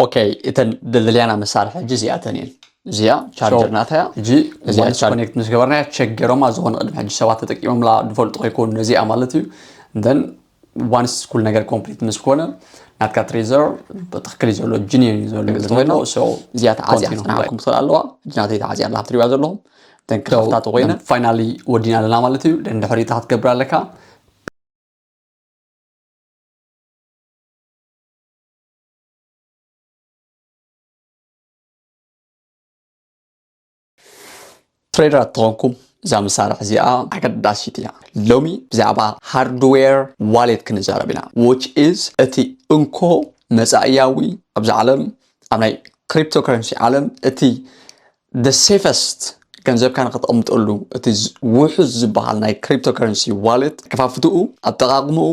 ኦከይ እተን ደልደልያና መሳርሒ ሕጂ እዚኣተን እየን እዚኣ ቻርጀር ናታ እያ ሕጂ እዚኣ ኮኔክት ምስ ገበርናያ ቸገሮማ ዝኾነ ቅድሚ ሕጂ ሰባት ተጠቂሞምላ ዝፈልጡ ከይኮኑ ነዚኣ ማለት እዩ ደን ዋንስ ኩሉ ነገር ኮምፕሊት ምስ ኮነ ናትካ ትሬዘር ብትክክል እዩ ዘሎ ጅኒን እዩ ዘሎ ዝኮይኖ እዚኣ ተዓዚያ ክትናሓኩም ትኽእል ኣለዋ ሕጂ ናተይ ተዓዚያ ኣላ ክትሪዋ ዘለኹም ደን ክኸፍታ ተኮይነ ፋይናሊ ወዲና ኣለና ማለት እዩ ደን ድሕሪታ ክትገብር ኣለካ ትሬደር ተኾንኩም እዛ መሳርሒ እዚኣ ኣገዳሲት እያ ሎሚ ብዛዕባ ሃርድዌር ዋሌት ክንዛረብ ኢና ዊች ኢዝ እቲ እንኮ መፃእያዊ ኣብዚ ዓለም ኣብ ናይ ክሪፕቶ ከረንሲ ዓለም እቲ the safest ገንዘብካ ንክተቕምጠሉ እቲ ውሑስ ዝበሃል ናይ ክሪፕቶ ከረንሲ ዋሌት ከፋፍትኡ ኣጠቓቕምኡ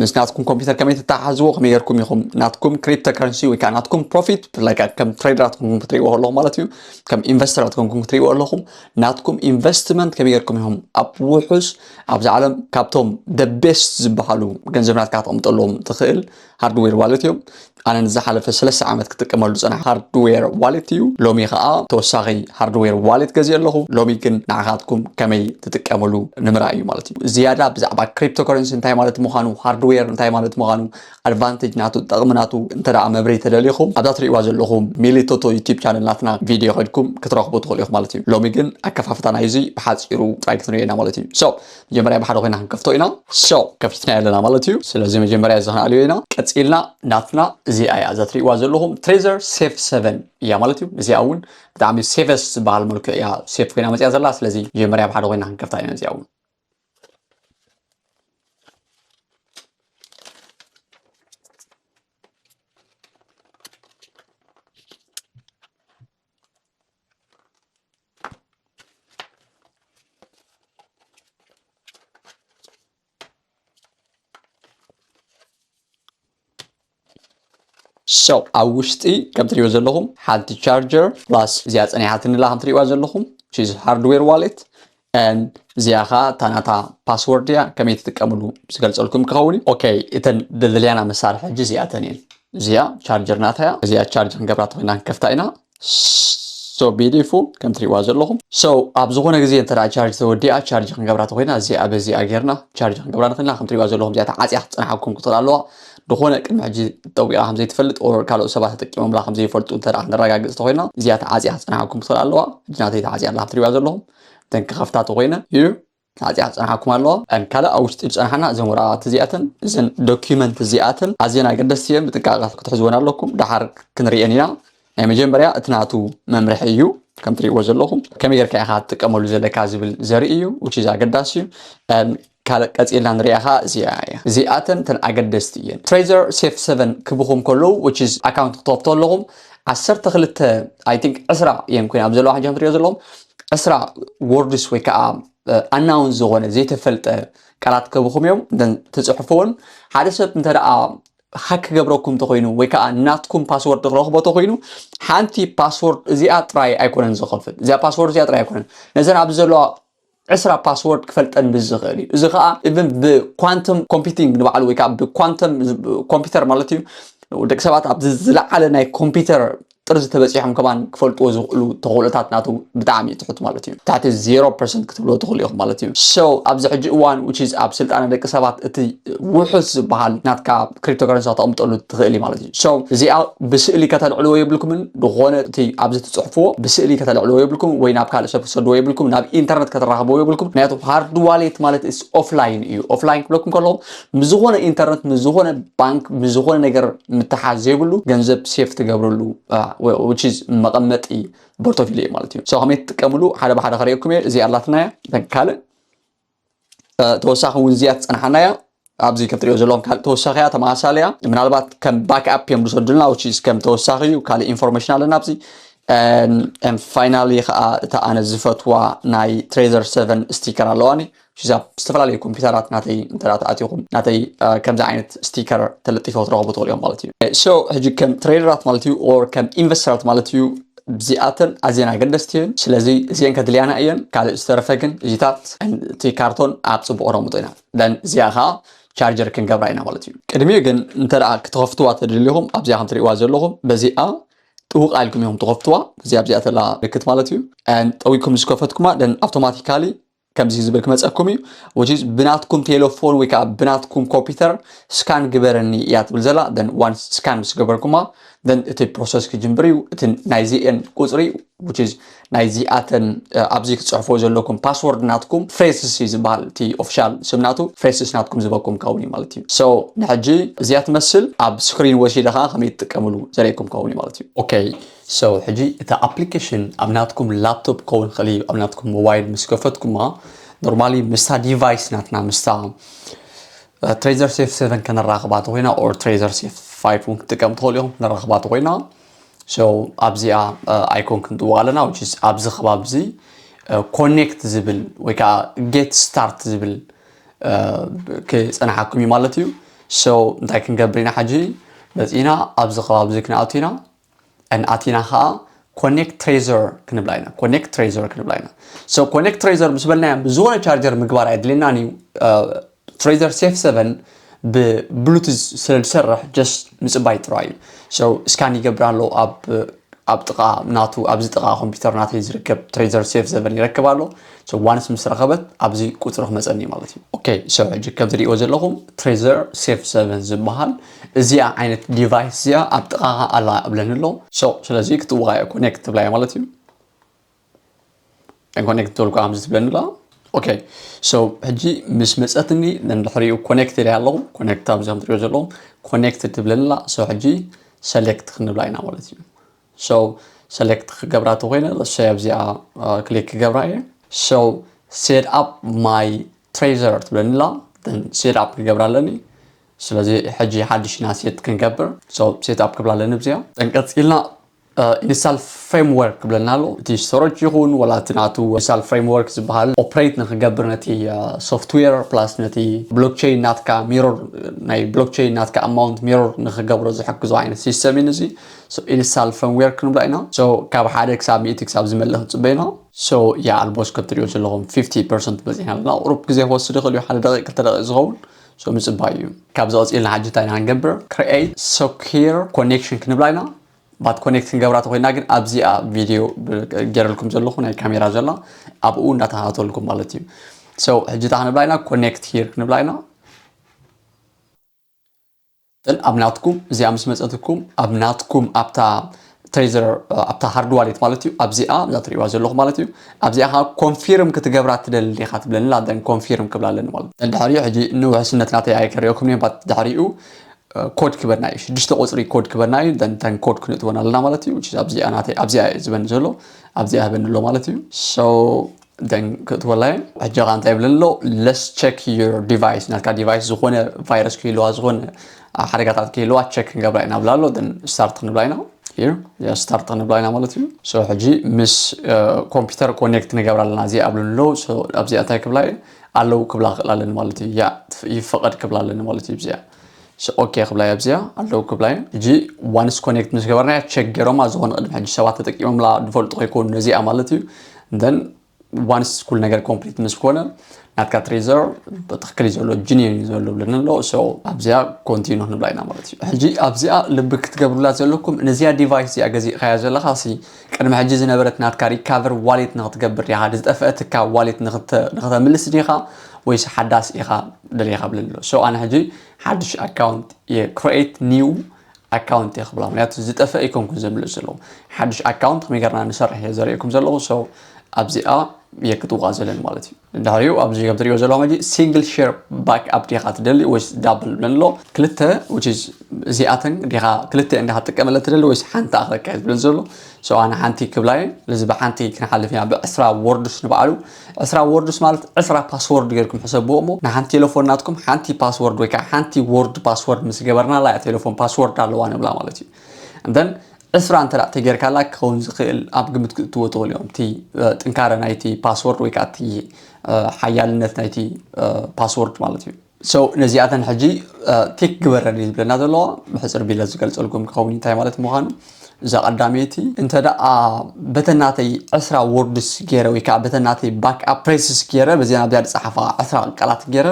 ምስ ናትኩም ኮምፒውተር ከመይ ተተሓሕዝዎ ከመይ ጌርኩም ኢኹም ናትኩም ክሪፕቶ ከረንሲ ወይ ከዓ ናትኩም ፕሮፊት ብፍላይ ከዓ ከም ትሬደራት ኮንኩም ክትሪእዎ ከለኹም ማለት እዩ ከም ኢንቨስተራት ኮንኩም ክትሪእዎ ኣለኹም ናትኩም ኢንቨስትመንት ከመይ ጌርኩም ኢኹም ኣብ ውሑስ ኣብዚ ዓለም ካብቶም ደ ቤስት ዝበሃሉ ገንዘብ ናትካ ተቕምጠሎም ትኽእል ሃርድዌር ዋሌት እዮም ኣነ ንዝሓለፈ ሰለስተ ዓመት ክጥቀመሉ ዝፀናሕ ሃርድዌር ዋሌት እዩ ሎሚ ከዓ ተወሳኺ ሃርድዌር ዋሌት ገዚኦ ኣለኹ ሎሚ ግን ንዓኻትኩም ከመይ ትጥቀምሉ ንምርኣይ እዩ ማለት እዩ ዝያዳ ብዛዕባ ክሪፕቶ ከረንሲ እንታይ ማለት ምዃኑ ሃርድዌር እንታይ ማለት ምዃኑ ኣድቫንቴጅ ናቱ ጠቕሚ ናቱ እንተ መብረይ ተደሊኹም ኣብዛ ትሪእዋ ዘለኹም ሚሊቶቶ ዩቲብ ቻነል ናትና ቪድዮ ከድኩም ክትረኽቡ ትኽእሉ ኢኹም ማለት እዩ ሎሚ ግን ኣከፋፍታ ናይዙይ ብሓፂሩ ጥራይ ክትንሪኦ ኢና ማለት እዩ መጀመርያ ብሓደ ኮይና ክንከፍቶ ኢና ሶ ከፊትና ኣለና ማለት እዩ ስለዚ መጀመርያ እዚ ክንኣልዮ ኢና ቀፂልና ናትና እዚኣ እያ እዛ ትሪእዋ ዘለኹም ትሬዘር ሴፍ 7 እያ ማለት እዩ እዚኣ እውን ብጣዕሚ ሴፈስ ዝበሃል መልክዕ እያ ሴፍ ኮይና መፅያ ዘላ ስለዚ መጀመርያ ብሓደ ኮይና ክንከፍታ ኢና እዚኣ እውን ሰው ኣብ ውሽጢ ከም ትሪእዎ ዘለኹም ሓንቲ ቻርጀር ፕላስ እዚኣ ፀኒሓትንላ ከም ትሪእዋ ዘለኹም ቺዝ ሃርድዌር ዋሌት and እዚኣ ከኣ እታ ናታ ፓስወርድ እያ ከመይ ትጥቀምሉ ዝገልጸልኩም ክኸውን እዩ ኦኬ እተን ደልያና መሳርሒ ሕጂ እዚኣተን እየን እዚኣ ቻርጀር ናታ እያ እዚኣ ቻርጅ ክንገብራ ተኮይና ክንከፍታ ኢና ሶ ቢዲፉ ከም ትሪእዋ ዘለኹም ሶ ኣብ ዝኾነ ግዜ እንተ ቻርጅ ተወዲኣ ቻርጅ ክንገብራ ተኮይና እዚኣ በዚኣ ጌርና ቻርጅ ክንገብራ ንኽእልና ከም ትሪእዋ ዘለኹም እዚኣ ተዓፅያ ክትፀናሓኩም ክትኽእል ኣለዋ ዝኾነ ቅድሚ ሕጂ ጠዊቓ ከም ዘይትፈልጥ ኦር ካልኦት ሰባት ተጠቂሞምላ ከም ዘይፈልጡ እንተ ክንረጋግፅ ተኮይና እዚኣ ተዓፅያ ክትፀናሓኩም ክትኽእል ኣለዋ ሕጂ ናተይ ተዓፅያ ኣላ ከም ትሪእዋ ዘለኹም እተን ክኸፍታ ተኾይነን እዩ ናጽያ ክጸንሓኩም ኣለዎ እን ካልእ ኣብ ውሽጢ ዝጸንሓና እዘን ወረቓቕቲ እዚኣተን እዘን ዶኪመንት እዚኣተን ኣዝየን ኣገደስቲ እየን ብጥንቃቐ ክትሕዝወን ኣለኩም ደሓር ክንርእየን ኢና ናይ መጀመርያ እቲ ናቱ መምርሒ እዩ ከም ትርእይዎ ዘለኹም ከመይ ጌርካ ኢኻ ትጥቀመሉ ዘለካ ዝብል ዘርኢ እዩ ውቺዝ ኣገዳሲ እዩ ካልእ ቀጺልና ንሪኣ ከኣ እዚኣ እያ። እዚኣተን እተን ኣገደስቲ እየን። Trezor Safe Seven ክብኹም ከለዉ which is ኣካውንት ክትኸፍቱ ከለኹም ዓሰርተ ክልተ I think ዕስራ እየን ኮይነን ኣብ ዘለዋ ሕጂ ከምትሪኦ ዘለኹም ዕስራ ወርድስ ወይ ከኣ ኣናውን ዝኾነ ዘይተፈልጠ ቃላት ከብኹም እዮም ትጽሕፍዎን ሓደ ሰብ እንተ ደኣ ሃክ ክገብረኩም እንተኮይኑ ወይ ከዓ ናትኩም ፓስወርድ ክረኽቦ እንተኮይኑ ሓንቲ ፓስወርድ እዚኣ ጥራይ ኣይኮነን ዝኸፍት እዚኣ ፓስወርድ እዚኣ ጥራይ ኣይኮነን ነዘን ኣብዚ ዘለዋ ዕስራ ፓስዎርድ ክፈልጠን ብዝኽእል እዩ እዚ ከዓ ኢቨን ብኳንተም ኮምፒቲንግ ንባዕሉ ወይ ከዓ ብኳንተም ኮምፒውተር ማለት እዩ ደቂ ሰባት ኣብዚ ዝለዓለ ናይ ኮምፒውተር ጥርዚ ተበፂሖም ከማን ክፈልጥዎ ዝኽእሉ ተኽእሎታት ናቱ ብጣዕሚ ትሑት ማለት እዩ ትሕቲ ዜሮ ፐርሰንት ክትብልዎ ትኽእሉ ኢኹም ማለት እዩ ሶ ኣብዚ ሕጂ እዋን ዊች ኣብ ስልጣነ ደቂ ሰባት እቲ ውሑስ ዝበሃል ናትካ ክሪፕቶከረንሲ ከተቕምጠሉ ትኽእል ማለት እዩ so እዚኣ ብስእሊ ከተልዕልዎ የብልኩምን ዝኾነ እቲ ኣብዚ ትጽሕፍዎ ብስእሊ ከተልዕልዎ የብልኩም ወይ ናብ ካልእ ሰብ ክትሰድዎ የብልኩም ናብ ኢንተርነት ከተራኽብዎ የብልኩም ምክንያቱ ሃርድ ዋሌት ማለት እስ ኦፍላይን እዩ ኦፍላይን ክብለኩም ከለኹ ምስ ዝኾነ ኢንተርነት ምስ ዝኾነ ባንክ ምስ ዝኾነ ነገር ምትሓዝ ዘይብሉ ገንዘብ ሴፍ ትገብርሉ which is መቐመጢ ቦርቶፊልዮ ማለት እዩ ሰው ከመይ ትጥቀምሉ ሓደ ብሓደ ከርእየኩም እየ እዚኣ ኣላትና እያ ካልእ ተወሳኺ እውን እዚኣ ትፀንሓና እያ ኣብዚ ከትሪኦ ዘለዎም ካልእ ተወሳኺ እያ ተመሳሳሊ እያ ምናልባት ከም ባክ ኣፕ እዮም ዝሰዱልና ውች ከም ተወሳኺ እዩ ካልእ ኢንፎርሜሽን ኣለና ኣብዚ ፋይናሊ ከዓ እታ ኣነ ዝፈትዋ ናይ ትሬዘር ሰቨን ስቲከር ኣለዋኒ ሽዛ ዝተፈላለዩ ኮምፒውተራት ናተይ እንተ ተኣትኹም ናተይ ከምዚ ዓይነት ስቲከር ተለጢፎ ትረኽቡ ትኽእሉ እዮም ማለት እዩ ሶ ሕጂ ከም ትሬደራት ማለት እዩ ኦር ከም ኢንቨስተራት ማለት እዩ እዚኣተን ኣዝየን ኣገደስቲ እየን ስለዚ እዚኤን ከድልያና እየን ካልእ ዝተረፈ ግን እዚታት እቲ ካርቶን ኣብ ፅቡቅ ረምጦ ኢና ደን እዚኣ ከዓ ቻርጀር ክንገብራ ኢና ማለት እዩ ቅድሚኡ ግን እንተ ክትኸፍትዋ ተደሊኹም ኣብዚኣ ከም ትሪእዋ ዘለኹም በዚኣ ጥውቅ ኣልኩም ኢኹም ትኸፍትዋ እዚ ኣብዚኣ ተላ ምልክት ማለት እዩ ጠዊኩም ምስ ከፈትኩማ ደን ኣውቶማቲካሊ ከምዚ ዝብል ክመፀኩም እዩ which is ብናትኩም ቴሌፎን ወይ ከዓ ብናትኩም ኮምፒውተር ስካን ግበረኒ እያ ትብል ዘላ ን ዋን ስካን ምስ ገበርኩማ ን እቲ ፕሮሰስ ክጅምብር እዩ እቲ ናይዚኤን ቁፅሪ which is ናይዚኣተን ኣብዚ ክፅሕፎ ዘለኩም ፓስወርድ ናትኩም ፍሬስስ እዩ ዝበሃል እቲ ኦፊሻል ስምናቱ ፍሬስስ ናትኩም ዝበኩም ከውን እዩ ማለት እዩ ሶ ንሕጂ እዚኣ ትመስል ኣብ ስክሪን ወሲደ ከዓ ከመይ ትጥቀምሉ ዘርእኩም ከውን እዩ ማለት እዩ ኦኬ So ሕጂ እታ application ኣብ ናትኩም laptop ክኸውን ይኽእል እዩ ኣብ ናትኩም mobile ምስ ከፈትኩማ normally ምስታ device ናትና ምስታ ትሬዘር ሴፍ 7 ከነራኽባ ተኮይና ኦር ትሬዘር ሴፍ 5 እውን ክትጥቀም ትኽእሉ ኢኹም ነራኽባ ተኮይና ሶ ኣብዚኣ ኣይኮን ክንጥዋ ኣለና ውጭስ ኣብዚ ከባቢ እዚ ኮኔክት ዝብል ወይ ከዓ ጌት ስታርት ዝብል ክፀናሓኩም እዩ ማለት እዩ ሶ እንታይ ክንገብር ኢና ሓጂ መፂና ኣብዚ ከባቢ እዚ ክንኣቱ ኢና and ኣቲና ከዓ ኮኔክት ትሬዘር ክንብላ ኢና ኮኔክት ትሬዘር ክንብላ ኢና ሶ ኮኔክት ትሬዘር ምስ በልናዮ ብዝኾነ ቻርጀር ምግባር ኣየድልየናን እዩ ትሬዘር ሴፍ 7 ብብሉቱዝ ስለ ዝሰርሕ ጀስት ምፅባይ ጥራይ እዩ ሶ እስካን ይገብር ኣሎ ኣብ ኣብ ጥቃ ናቱ ኣብዚ ጥቃ ኮምፒውተር ናተይ ዝርከብ ትሬዘር ሴፍ ዘበን ይረክብ ኣሎ ሶ ዋንስ ምስ ረኸበት ኣብዚ ቁፅሪ ክመፀኒ ማለት እዩ ኦኬ ሶ ሕጂ ከም ትሪእዎ ዘለኹም ትሬዘር ሴፍ ዘበን ዝበሃል እዚኣ ዓይነት ዲቫይስ እዚኣ ኣብ ጥቓኻ ኣላ እብለኒ ኣሎ ሶ ስለዚ ክትዋዮ ኮኔክት ትብላዮ ማለት እዩ ኮኔክት ተልኩ ከምዚ ትብለኒ ኣሎ ኦኬ ሶ ሕጂ ምስ መፀትኒ ንድሕሪኡ ኮኔክት ኢለ ኣለኹ ኮኔክት ኣብዚ ከም ትሪኦ ዘለኹም ኮኔክት ትብለኒ ኣላ ሶ ሕጂ ሰሌክት ክንብላ ኢና ማለት እዩ ሶ ሰሌክት ክገብራ ተኮይነ ለሶ ኣብዚኣ ክሊክ ክገብራ እየ ሶ ሴት ኣፕ ማይ ትሬዘር ትብለኒ ኣላ ሴት ኣፕ ክገብራ ኣለኒ ስለዚ ሕጂ ሓድሽ ኢና ሴት ክንገብር so set up ክብላ ኣለኒ ብዚኣ then ቀጺልና ኢንስታል ፍሬምወርክ ክብለና ኣሎ እቲ ስተሮጅ ይኹን ወላ እቲ ናቱ ኢንስታል ፍሬምወርክ ዝበሃል ኦፕሬት ንክገብር ነቲ ሶፍትዌር ፕላስ ነቲ ብሎክቸይን ናትካ ሚሮር ናይ ብሎክቸይን ናትካ ኣማውንት ሚሮር ንክገብሮ ዝሕግዞ ዓይነት ሲስተም እዩ እዚ ኢንስታል ፍሬምወርክ ንብላ ኢና so ካብ ሓደ ክሳብ ሚእቲ ክሳብ ዝመልእ ክንጽበ ኢና so ያ ኣልቦስ ከም ትሪኦ ዘለኹም 50 ፐርሰንት በጺሕና ኣለና ቁሩብ ግዜ ክወስድ ይኽእል እዩ ሓደ ደቂቅ ክልተ ደቂቅ ዝኸውን ሶ ምጽባይ እዩ ካብዚ ቀጺልና ሓጂ እንታይ ኢና ክንገብር create secure connection ክንብላ ኢና ባት ኮኔክት ክንገብራ ተኮይና ግን ኣብዚኣ ቪድዮ ገይረልኩም ዘለኹ ናይ ካሜራ ዘላ ኣብኡ እንዳተኸታተልኩም ማለት እዩ ሰው ሕጂ እታ ክንብላ ኢና ኮኔክት ሂር ክንብላ ኢና እተን ኣብ ናትኩም እዚኣ ምስ መፀትኩም ኣብ ናትኩም ኣብታ ትሬዘር ኣብታ ሃርድ ዋሌት ማለት እዩ ኣብዚኣ እዛ ትሪእዋ ዘለኹም ማለት እዩ ኣብዚኣ ከዓ ኮንፊርም ክትገብራ ትደሊ ዲኻ ትብለኒ ኣላ ደን ኮንፊርም ክብላ ኣለኒ ማለት እዩ ድሕሪኡ ሕጂ ንውሕስነት ናተይ ኣይከሪኦኩም እየ ድሕሪኡ ኮድ ክበና እዩ ሽዱሽተ ቁፅሪ ኮድ ክበና እዩ ደንተን ኮድ ክንእትወን ኣለና ማለት እዩ ኣብዚኣ ናተይ ኣብዚኣ ዝበኒ ዘሎ ኣብዚኣ ህበኒ ኣሎ ማለት እዩ ሶ ደን ክትወላየን ሕጂ ኸ እንታይ ይብለኒ ኣሎ ለስ ቸክ ዩር ዲቫይስ ናትካ ዲቫይስ ዝኾነ ቫይረስ ክህልዋ ዝኾነ ሓደጋታት ክህልዋ ቸክ ክንገብራ ኢና ብላ ኣሎ ደን ስታርት ክንብላ ኢና እዩ ስታርት ክንብላ ኢና ማለት እዩ ሶ ሕጂ ምስ ኮምፒውተር ኮኔክት ንገብራ ኣለና እዚ ኣብሉ ኣሎ ኣብዚኣ እንታይ ክብላ ኣለዉ ክብላ ክእል ኣለኒ ማለት እዩ ያ ይፈቐድ ክብላ ኣለኒ ማለት እዩ ብዚኣ ኦኬ ክብላይ ኣብዚኣ ኣለዉ ክብላይ ሕጂ ዋንስ ኮኔክት ምስ ገበርናያ ቸክ ገይሮማ ዝኾነ ቅድሚ ሕጂ ሰባት ተጠቂሞምላ ዝፈልጡ ከይኮኑ ነዚኣ ማለት እዩ ን ዋንስ ኩሉ ነገር ኮምፕሊት ምስ ኮነ ናትካ ትሬዘር ብትክክል እዩ ዘሎ ጅኒን እዩ ዘሎ ብለና ኣሎ ሶ ኣብዚኣ ኮንቲኑ ክንብላ ኢና ማለት እዩ ሕጂ ኣብዚኣ ልቢ ክትገብሩላ ዘለኩም ነዚኣ ዲቫይስ እዚኣ ገዚእካያ ዘለካ ሲ ቅድሚ ሕጂ ዝነበረት ናትካ ሪካቨር ዋሌት ንክትገብር ዲኻ ድ ዝጠፈአትካ ዋሌት ንክተምልስ ዲኻ ወይስ ሓዳስ ኢኻ ደሊኻ ብለኒ ኣሎ ሶ ኣነ ሕጂ ሓድሽ ኣካውንት እየ ክሬት ኒው ኣካውንት እየ ክብላ ምክንያቱ ዝጠፈ ኣይኮንኩን ዘምልስ ዘለኹ ሓድሽ ኣካውንት ከመይ ገርና ንሰርሕ እየ ዘርእየኩም ዘለኹ ሶ ኣብዚኣ እየ ክትውቃ ዘለኒ ማለት እዩ ድሕሪኡ ኣብዚ ከም ትሪእዎ ዘለኹም ሕጂ ሲንግል ሼር ባክ ኣፕ ዲኻ ትደሊ ወይስ ዳብል ብለን ኣሎ ክልተ which is እዚኣተን ዲኻ ክልተኤን ዲኻ ትጥቀመለን ትደሊ ወይስ ሓንቲ ኣኻ ከካየድ ብለን ዘሎ ሰው ኣነ ሓንቲ ክብላ እየ ስለዚ ብሓንቲ ክንሓልፍ ኢና ብዕስራ ወርዱስ ንበዓሉ ዕስራ ወርዱስ ማለት ዕስራ ፓስወርድ ጌርኩም ሕሰብዎ እሞ ንሓንቲ ቴሌፎን ናትኩም ሓንቲ ፓስወርድ ወይ ከዓ ሓንቲ ወርድ ፓስወርድ ምስ ገበርናላ እያ ቴሌፎን ፓስወርድ ኣለዋ ንብላ ማለት እዩ then ዕስራ እንተ ተጌርካላ ክኸውን ዝኽእል ኣብ ግምት ክእትዎ ትኽእሉ እዮም እቲ ጥንካረ ናይቲ ፓስወርድ ወይ ከዓ እቲ ሓያልነት ናይቲ ፓስወርድ ማለት እዩ ሰው ነዚኣተን ሕጂ ቴክ ግበረን እዩ ዝብለና ዘለዎ ብሕፅር ቢለ ዝገልፀልኩም ክኸውን እንታይ ማለት ምዃኑ እዛ ቀዳመይቲ እንተ ደኣ በተናተይ ዕስራ ወርድስ ገይረ ወይ ከዓ በተናተይ ባክ ኣፕ ፕሬስስ ገይረ በዚኣ ናብዚኣ ዝፀሓፋ ዕስራ ቃላት ገይረ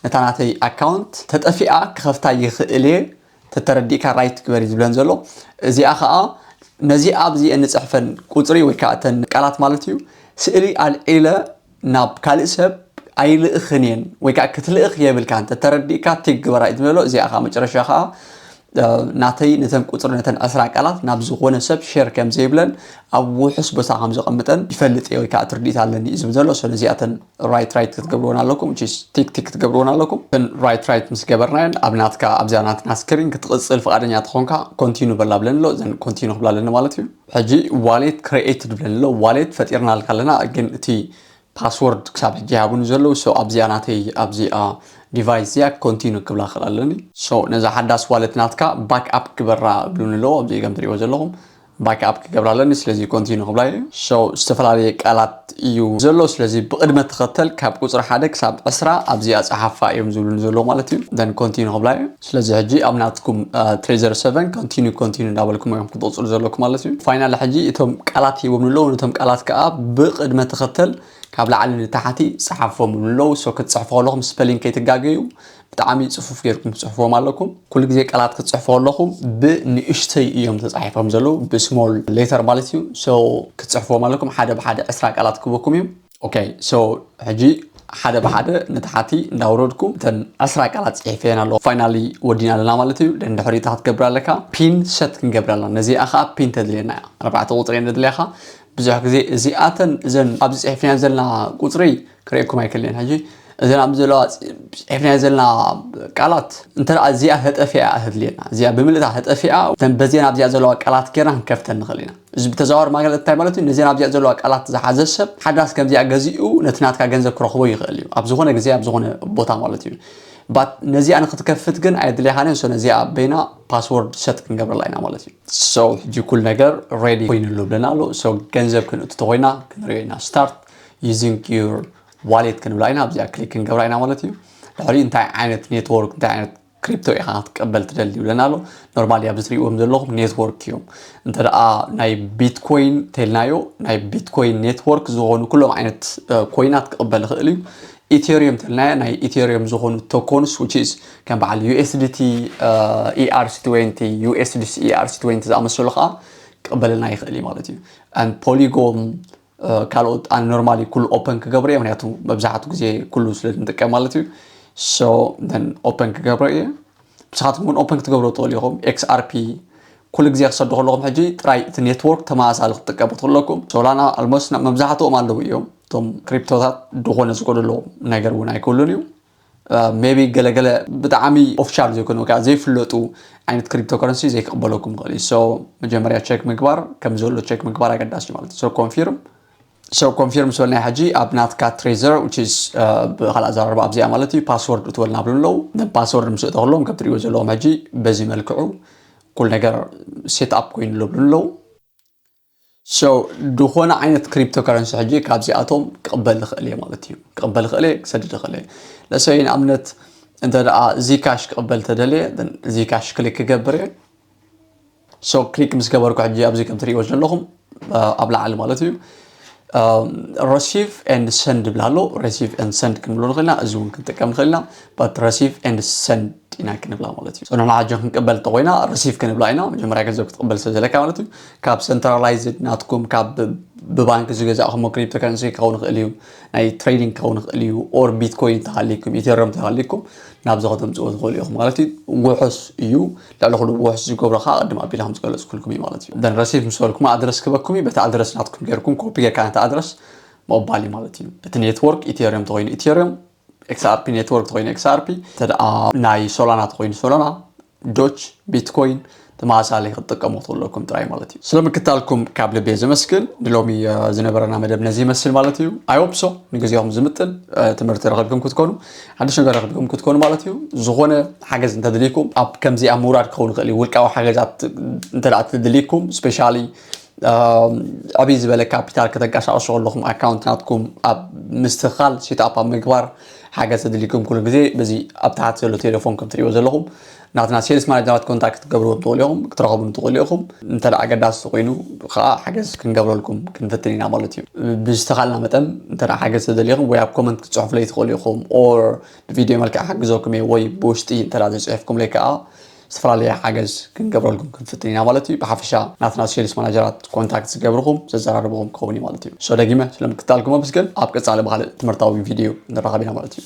ነታ ናተይ ኣካውንት ተጠፊኣ ክኸፍታ ይኽእል እየ ተተረዲእካ ራይት ግበሪ ዝብለን ዘሎ እዚኣ ከዓ ነዚ ኣብዚ እንፅሕፈን ቁፅሪ ወይ ከዓ እተን ቃላት ማለት እዩ ስእሊ ኣልዒለ ናብ ካልእ ሰብ ኣይልእኽን እየን ወይ ከዓ ክትልእኽ የብልካን ተተረዲእካ ቲግ ግበራ እዩ ዝበሎ እዚኣ ከዓ መጨረሻ ከዓ ናተይ ነተን ቁፅሪ ነተን ዕስራ ቃላት ናብ ዝኾነ ሰብ ሼር ከም ዘይብለን ኣብ ውሑስ ቦታ ከም ዘቐምጠን ይፈልጥ እየ ወይ ከዓ ትርዲት ኣለኒ እዩ ዝብል ዘሎ ሰለዚኣተን ራይት ራይት ክትገብርዎን ኣለኩም ቺስ ቲክ ቲክ ክትገብርዎን ኣለኩም እን ራይት ራይት ምስ ገበርናየን ኣብ ናትካ ኣብዛ ናትና ስክሪን ክትቕፅል ፍቓደኛ ተኾንካ ኮንቲኑ በላ ብለን ኣሎ እዘን ኮንቲኑ ክብላ ኣለኒ ማለት እዩ ሕጂ ዋሌት ክሬኤትድ ብለን ኣሎ ዋሌት ፈጢርናልካ ኣለና ግን እቲ ፓስወርድ ክሳብ ሕጂ ይሃቡኒ ዘለዉ ሶ ኣብዚኣ ናተይ ኣብዚኣ ዲቫይስ እዚኣ ኮንቲኑ ክብላ ክእል ኣለኒ ሶ ነዛ ሓዳስ ዋሌት ናትካ ባክ ኣፕ ግበራ ብሉኒ ኣለዎ ኣብዚ ገም ትሪእዎ ዘለኹም ባክ ኣፕ ክገብራ ኣለኒ ስለዚ ኮንቲኑ ክብላ እዩ ሶ ዝተፈላለየ ቃላት እዩ ዘሎ ስለዚ ብቅድመ ተኸተል ካብ ቁፅሪ ሓደ ክሳብ ዕስራ ኣብዚኣ ፀሓፋ እዮም ዝብሉኒ ዘለዎ ማለት እዩ ደን ኮንቲኑ ክብላ እዩ ስለዚ ሕጂ ኣብ ናትኩም ትሬዘር ሰቨን ኮንቲኑ ኮንቲኑ እንዳበልኩም እዮም ክትቕፅሉ ዘለኩም ማለት እዩ ፋይናል ሕጂ እቶም ቃላት ሂቦም ኣለዉ ነቶም ቃላት ከዓ ብቅድመ ተኸተል ካብ ላዕሊ ንታሕቲ ፀሓፎም ኣለዉ ሶ ክትፅሕፉ ከለኹም ስፐሊንግ ከይትጋገዩ ብጣዕሚ ጽፉፍ ጌርኩም ትጽሕፍዎም ኣለኩም ኩሉ ግዜ ቃላት ክትጽሕፉ ከለኹም ብንእሽተይ እዮም ተጻሒፎም ዘለዉ ብስሞል ሌተር ማለት እዩ ሶ ክትጽሕፍዎም ኣለኩም ሓደ ብሓደ ዕስራ ቃላት ክበኩም እዩ ኦኬ ሶ ሕጂ ሓደ ብሓደ ንታሓቲ እንዳውረድኩ እተን ዕስራ ቃላት ጽሒፈየን ኣለኹ ፋይናሊ ወዲና ኣለና ማለት እዩ ደን ድሕሪ እታ ክትገብር ኣለካ ፒን ሰት ክንገብር ኣለና ነዚኣ ከዓ ፒን ተድልየና እያ ኣርባዕተ ቁጽሪ እየን ዘድልያኻ ብዙሕ ግዜ እዚኣተን እዘን ኣብዚ ጽሒፍናየን ዘለና ቁጽሪ ክርእየኩም ኣይክእልን ሕጂ እዘን ኣብዚ ዘለዋ ሒፍናዮ ዘለና ቃላት እንተ እዚኣ ተጠፊኣ ተድልየና እዚኣ ብምልእታ ተጠፊኣ እተን በዜን ኣብዚኣ ዘለዋ ቃላት ጌርና ክንከፍተን ንኽእል ኢና እዚ ብተዘዋዋሪ ማለት እንታይ ማለት እዩ ነዜን ኣብዚኣ ዘለዋ ቃላት ዝሓዘ ሰብ ሓዳስ ከምዚኣ ገዚኡ ነቲ ናትካ ገንዘብ ክረኽቦ ይኽእል እዩ ኣብ ዝኾነ ግዜ ኣብ ዝኾነ ቦታ ማለት እዩ ባት ነዚኣ ንክትከፍት ግን ኣየድልያኻን እዮ ነዚኣ ኣበይና ፓስወርድ ሰት ክንገብረላ ኢና ማለት እዩ ሰው ሕጂ ኩል ነገር ሬዲ ኮይኑሉ ብለና ኣሎ ሰው ገንዘብ ክንእቱ ተኮይና ክንሪኦ ኢና ስታርት using your ዋሌት ክንብላ ኢና ኣብዚኣ ክሊክ ክንገብራ ኢና ማለት እዩ ድሕሪ እንታይ ዓይነት ኔትወርክ እንታይ ዓይነት ክሪፕቶ ኢኻ ክትቀበል ትደሊ ይብለና ኣሎ ኖርማሊ ኣብዚ ትሪእዎም ዘለኹም ኔትወርክ እዮም እንተ ደኣ ናይ ቢትኮይን ተልናዮ ናይ ቢትኮይን ኔትወርክ ዝኾኑ ኩሎም ዓይነት ኮይናት ክቕበል ይኽእል እዩ ኢቴሪየም ተልናዮ ናይ ኢቴሪየም ዝኾኑ ቶኮንስ ዊችስ ከም በዓል ዩኤስዲቲ ኢኣርሲ 20 ዩኤስዲሲ ኢኣርሲ 20 ዝኣመሰሉ ከዓ ክቕበለና ይኽእል እዩ ማለት እዩ ፖሊጎም ካልኦት ኣነ ኖርማሊ ኩሉ ኦፐን ክገብሮ እየ ምክንያቱ መብዛሕቱ ግዜ ኩሉ ስለ ንጥቀም ማለት እዩ ሶ ን ኦፐን ክገብሮ እየ ብስኻትኩም እውን ኦፐን ክትገብሮ ትኽእሉ ኢኹም ኤክስኣርፒ ኩሉ ግዜ ክሰዱ ከለኹም ሕጂ ጥራይ እቲ ኔትወርክ ተመሳሳሊ ክትጥቀሙ ትኽእለኩም ሶላና ኣልሞስ መብዛሕትኦም ኣለዉ እዮም እቶም ክሪፕቶታት ድኾነ ዝጎደሎ ነገር እውን ኣይክህሉን እዩ ሜቢ ገለ ገለ ብጣዕሚ ኦፊሻል ዘይኮነ ወይ ዘይፍለጡ ዓይነት ክሪፕቶ ከረንሲ ዘይክቕበለኩም ይኽእል እዩ ሶ መጀመርያ ቸክ ምግባር ከም ዘሎ ቸክ ምግባር ኣገዳሲ ማለት እዩ ሶ ኮንፊርም ሶ ኮንፊርም ምስ በልናይ ሕጂ ኣብ ናትካ ትሬዘር ዊችዝ ብካልእ ኣዘራርባ ኣብዚኣ ማለት እዩ ፓስወርድ እትበልና ብሉ ኣለዉ ንፓስወርድ ምስ እተክሎም ከም ትሪእዎ ዘለዎም ሕጂ በዚ መልክዑ ኩል ነገር ሴት ኣፕ ኮይኑ ኣለብሉ ኣለዉ So ዝኾነ ዓይነት ክሪፕቶ ከረንሲ ሕጂ ካብዚኣቶም ክቕበል ይኽእል እየ ማለት እዩ ክቕበል ይኽእል እየ ክሰድድ ይኽእል እየ ለሰይ ንኣብነት እንተ ደኣ ዚካሽ ክቕበል ተደልየ ዚካሽ ክሊክ ክገብር እየ ሶ ክሊክ ምስ ገበርኩ ሕጂ ኣብዚ ከም ትርእይዎ ዘለኹም ኣብ ላዕሊ ማለት እዩ ረሲቭ ኤንድ ሰንድ ብላ ኣሎ ረሲቭ ኤንድ ሰንድ ክንብሎ ንኽእልና እዚ እውን ክንጥቀም ንኽእልና ባት ረሲቭ ኤንድ ሰንድ ጢናይ ክንብላ ማለት እዩ ፅኑሕ ንሓጆ ክንቅበል እንተኮይና ረሲፍ ክንብላ ኢና መጀመርያ ገንዘብ ክትቅበል ስለ ዘለካ ማለት እዩ ካብ ሰንትራላይዝድ ናትኩም ካብ ብባንክ ዝገዛእኹሞ ክሪፕቶ ከረንሲ ክኸውን ይኽእል እዩ ናይ ትሬዲንግ ክኸውን ይኽእል እዩ ኦር ቢትኮይን ተሃሊኩም ኢቴሪየም ተሃሊኩም ናብዚ ከተምፅዎ ትኽእሉ ኢኹም ማለት እዩ ውሑስ እዩ ልዕሊ ኩሉ ውሑስ ዝገብሮ ከዓ ቅድም ኣቢለ ከም ዝገለፅኩልኩም እዩ ማለት እዩ ደን ረሲፍ ምስ በልኩም ኣድረስ ክበኩም እዩ በቲ ኣድረስ ናትኩም ገይርኩም ኮፒ ጌርካ ነቲ ኣድረስ ምቕባል እዩ ማለት እዩ እቲ ኔትወርክ ኢቴሪየም ተኮይኑ ኢቴሪየም ኤክስኣርፒ ኔትወርክ ተኮይኑ ኤክስኣርፒ እንተ ናይ ሶላና ተኮይኑ ሶላና ዶች ቢትኮይን ተመሳሳሊ ክትጥቀሙ ትኽእለኩም ጥራይ ማለት እዩ ስለምክታልኩም ካብ ልቤ ዘመስግን ንሎሚ ዝነበረና መደብ ነዚ ይመስል ማለት እዩ ኣይወብሶ ንግዜኹም ዝምጥን ትምህርቲ ረኸብኩም ክትኮኑ ሓድሽ ነገር ረኸብኩም ክትኮኑ ማለት እዩ ዝኾነ ሓገዝ እንተድልይኩም ኣብ ከምዚ ኣብ ምውራድ ክኸውን ይኽእል እዩ ውልቃዊ ሓገዛት እንተ ትድልይኩም ስፔሻሊ ዕብይ ዝበለ ካፒታል ከተንቀሳቕሱ ከለኹም ኣካውንት ናትኩም ኣብ ምስትኽኻል ሴትኣፕ ኣብ ምግባር ሓገዝ ተድልዩኩም ኩሉ ግዜ በዚ ኣብ ታሕቲ ዘሎ ቴሌፎን ከም ትሪእዎ ዘለኹም ናትና ሴልስ ማናጀራት ኮንታክት ክትገብርዎ ትኽእሉ ኢኹም ክትረኸቡ ትኽእሉ ኢኹም እንተ ኣገዳሲ ኮይኑ ከዓ ሓገዝ ክንገብረልኩም ክንፍትን ኢና ማለት እዩ ብዝተኻልና መጠን እንተ ሓገዝ ተደሊኹም ወይ ኣብ ኮመንት ክትፅሑፍለይ ትኽእሉ ኢኹም ኦር ብቪድዮ መልክዕ ሓግዘኩም እየ ወይ ብውሽጢ እንተ ዘይፅሒፍኩምለይ ከዓ ዝተፈላለየ ሓገዝ ክንገብረልኩም ክንፍትን ኢና ማለት እዩ ብሓፈሻ ናትና ሴልስ ማናጀራት ኮንታክት ዝገብርኹም ዘዘራርብኹም ክኸውን እዩ ማለት እዩ ሶ ደጊመ ስለምክትታልኩም ኣመስግን ኣብ ቀጻሊ ብካልእ ትምህርታዊ ቪድዮ ንራኸብ ኢና ማለት እዩ